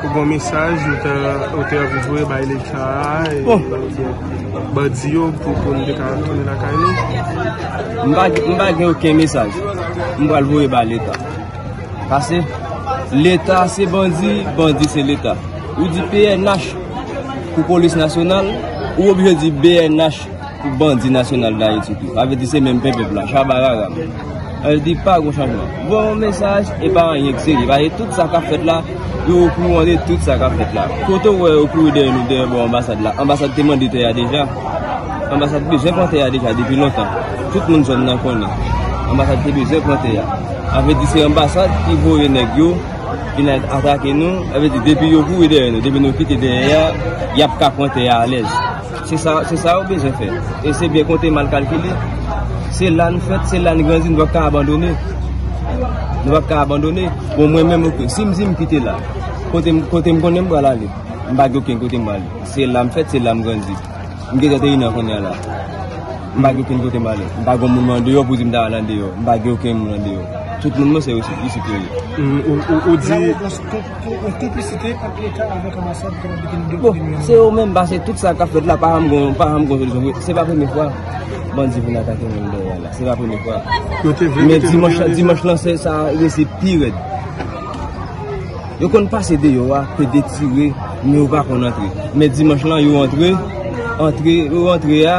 Pou bon mesaj ou te anvi voye bay leta a e bandi yo pou nou te ka retounen lakay nou? M pa gen oken mesaj m pral voye bay leta. Pase leta se bandi, bandi se leta. Ou di pnh pou polis nasyonal, ou oblije di bnh. Pou bandi nasyonal dayiti tou. Sa vle di se menm pen pèp la. Chabarara. Al di pa gon chanjman. Bon mesaj e pa anyen k serye. Pase tout sa kap fèt la yo okouran de tout sa kap fèt la. Kote w wè yo kouri dèyè nou dèyè bò anbasad la. Anbasad te mande tè a deja. Anbasad bezwen pran tè a deja depi lontan. Tout moun zòn nan konnen. Anbasad te bezwen pran tè a. Sa vle di se anbasad ki voye nèg yo vin atake nou. Sa vle di depi yo kouri dèyè nou. Depi nou kite tè a yap ka pran tè a alèz. Se sa se sa yo bezwen fè e se byen konte mal kalkile se la n fèt se la n grandi nou pa p ka abandone nou pa p ka abandone bon mwen menm ok si m di m kite la kote m kote m konnen m pral ale m pa gen okenn kote m pral ale se la m fèt se la m grandi m gen 31 an kounye a la m pa gen okenn kote m pral ale m pa gen moun mwen andeyò pou di m ta al andeyò m pa gen okenn moun andeyò tout moun mwen se yo isit yo ye ou di Bon, se yo menm pase tout sa kap fèt la pa janm gon, pa janm gon solisyon vre. Se pa premye fwa bandi vin atake moun nan Doral la. Se pa premye fwa. Men dimanch, dimanch lan se sa resi pi rèd. Yo konn pase deyò a, pe de tire, men yo pa konn antre. Men dimanch lan yo antre, antre, yo antre a.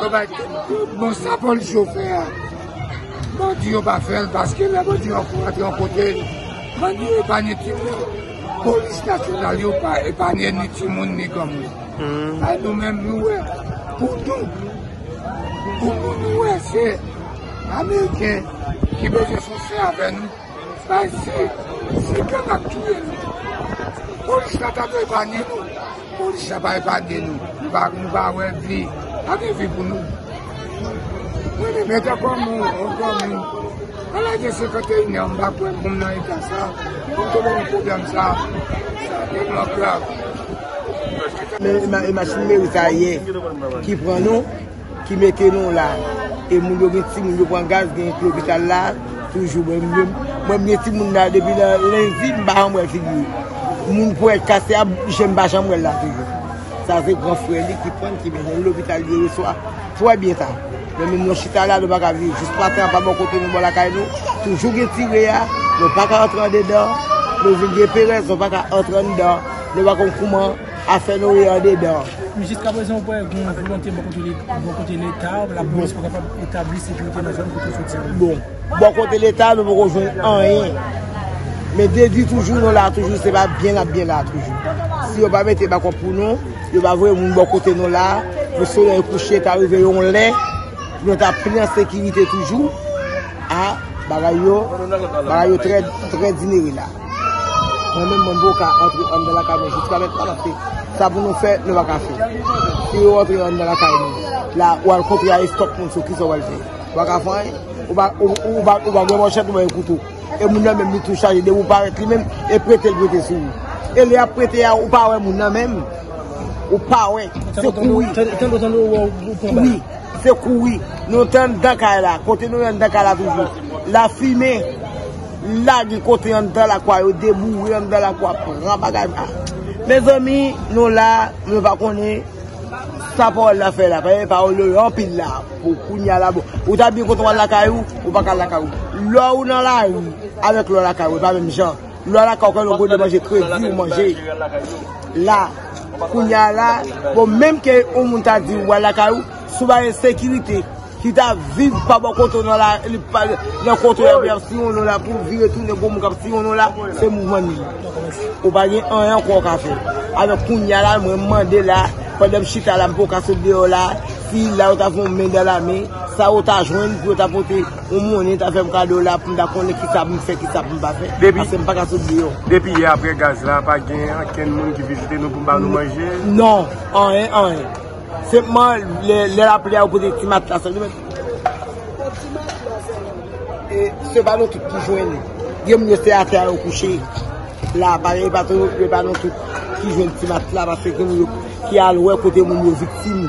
Bon bagay bon sa police yo fè a bandi yo pa fèl paske lè bandi yo antre yon kote bandi yo epanye timoun police nasyonal yo pa epanye ni timoun ni granmoun a nou menm nou wè pou nou pou nou nou wè se ameriken ki bezwen fòse avè nou. Bay se se gang kap touye nou. Polis la ta dwe epanye nou. Polis la pa epanye nou. Nou pa wè vi. Pa gen vi pou nou. Mwen ta kwa moun. Mwen kwa moun. Mwen la gen 51 an. Mwen pa kwen moun nan etan sa. Mwen te mwen pou blan sa. Mwen mwen krav. E machin meri sa ye. Ki pran nou. ki mete nou la e moun yo gen ti moun yo pran gaz gen ki lopital la toujou mwen menm mwen gen ti moun la depi nan lendi m pa janm wè figi l moun pou et kase a je m pa janm wè l la toujou sa se gran frè li ki pran l ki mennen l lopital li reswa twè byen sa men menm nou chita la nou pa ka viv jis maten an pa bon kote nou bò lakay nou toujou gen ti re a nou pa ka antre andedan nou vin gen perèz nou pa ka antre andedan nou pa konn kouman. Afè nou ye andedan. Jiska prezan ou kwè gen yon volonte bò kote leta, lapolis pou kapab etabli sekirite nan zòn kote ou soti a? Bon, bò kote leta nou poko jwenn anyen. Men de di toujou nou la toujou se pa byen nap byen la toujou. Si yo pa mete bakòp pou nou, yo pa voye moun bò kote nou la, pou solèy kouche ta rive yon lè, pou nou ta pi an sekirite toujou, a bagay yo, bagay yo trè dinere la. Mwen menm mwen boka antre andan lakay mwen jiska mèt an antre. Sa pou nou fè, nou pa ka fè. Si yo antre andan lakay mwen, la ou al kontre a estok moun sou kisa ou al fè. Ou pa ka fè anyen. Ou pa gen manchèt ou pa gen kouto. E moun nan menm li tou chaje depi ou parèt li menm e prete l prete sou ou. E lè yap prete a ou pa wè moun nan menm. Ou pa wè. Se kouri. Tande tande ou wè ou pran bal. Wi. Se kouri. Nou te andan kay la. Kote nou andan kay la toujou. La fime. la gen kote anndan lakwa yo deboure anndan lakwa pran bagay pa mezanmi nou la mwen pa konnen sa pawòl la fè la paske pawòl yo anpil la pou kounya la bon ou ta byen kontan wal lakay ou ou pa kal lakay ou lò ou nan lari avèk lò lakay ou e pa menm jan lò lakay ou kwen lò gode manje kredi ou manje la kounya la bon menm ke ou moun ta di wal lakay ou. sou bay ensekirite ki ta viv pa bò kote w nan la li pa nan kote yo ap siwonnen w la pou w vire tounen gwo moun k ap siwonnen w la se mouvman nou ye ou pa gen anyen ankò w ka fè alò kounya la mwen mande la pandan m chita la m pa w ka sot deyò la si la yo ta fè yon men dan la men sa yo ta jwenn pou yo ta pote yon monnen ta fè m kado la pou m ta konnen ki sa pou m fè ki sa pou m pa fè pase m pa ka sot deyò depi yè apre gaz la pa gen ankenn moun ki vizite nou pou m ba nou manje non anyen anyen. Senpman lè lapli a ou pote ti matla sèlman. Bon ti matla sèlman. Se pa nou tout ki jwenn li. Gen moun yo se atè a yo kouche. La pa gen pa tou se pa nou tout ki jwenn ti matla paske gen moun yo ki al wè kote moun yo viktim.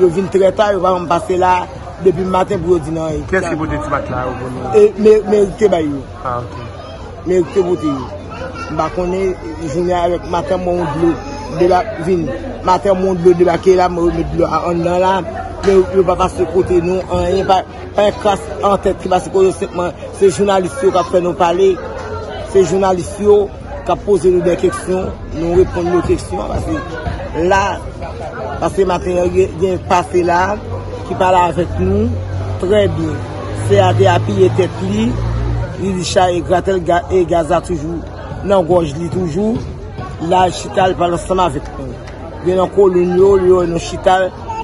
Yo vin trè ta yo pa janm pase la depi maten pou yo di nan. Kiyès ki pote ti matla a yo pou nou? Merite bay yo. Ah ok. Men te vote yo. M pa konnen jounen an avèk maten bon dlo debak vin. Maten bon dlo debake la mwen remèt dlo a anndan la. Men yo pa pase kote nou anyen. Pa yon kras an tèt ki pase kote nou. Se jounalis yo k ap fè nou pale. Se jounalis yo k ap poze nou de keksyon. Nou reponn yo keksyon. Pase la. Pase maten yon gen pase la. Ki pale avèk nou. Trè byen. Fè a te apiye tèt li, li li cha e gratè l e gaz la toujou nan gòj li toujou. La l chita l pale ansanm avèk nou. Gen nan kolonn yo, yo wè nou chita,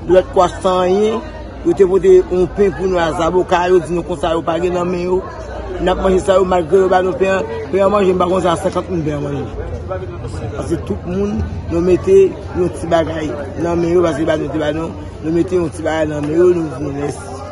lòt kwa san anyen. Yo te pote yon pen pou nou a zaboka, yo di nou konsa yo pa gen nan men yo. N ap manje sa yo malgre yo ba nou pen an. Pen an manje m pa konn sa 50 moun pen an manje. Pase tout moun nou mete yon ti bagay nan men yo pase yo ba nou te ba nou. Nou mete yon ti bagay nan men yo nou di nou mèsi.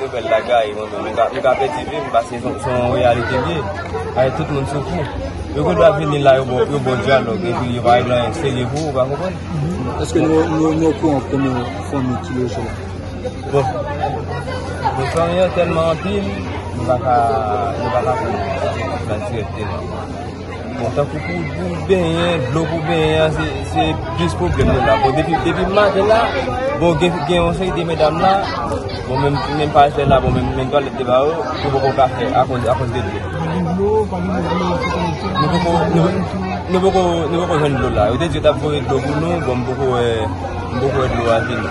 Nouvèl la gaye mwen menm, yo ka pèdi vi m paske se yon reyalite li ye. Paske tout moun soufri. Yo gen dwa vini la yo bo dyalòg epi yo pa regle anyen serye pou ou, ou pa konprann? Eske nou okouran kouman fanmi ki loje la? Bon, pou fanmi an tèlman anpil, nou pa ka konnen nan direkteman. Bon tankou pou ou benyen, dlo pou benyen an se plis pwoblèm nou la. Bon depi depi m maten la, bon gen yon seri de medam la, bon menm si menm pa jwenn la, bon menm twalèt te ba yo, yo poko ka fè akoz de dlo. Nou poko jwenn dlo la. Yo te di yo t ap voye dlo pou nou, bon m poko wè dlo a vini.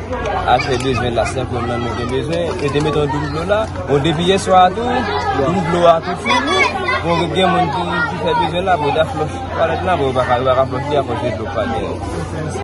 Achte bezwen la sèm pou mwen mwen bezwen e te meton doum dlo la bon depi yè swa tou doum dlo a tou fini bon mwen gen mwen ki fè bezwen la pou ta flòch pou ta flòch li a pou te dlo pa gen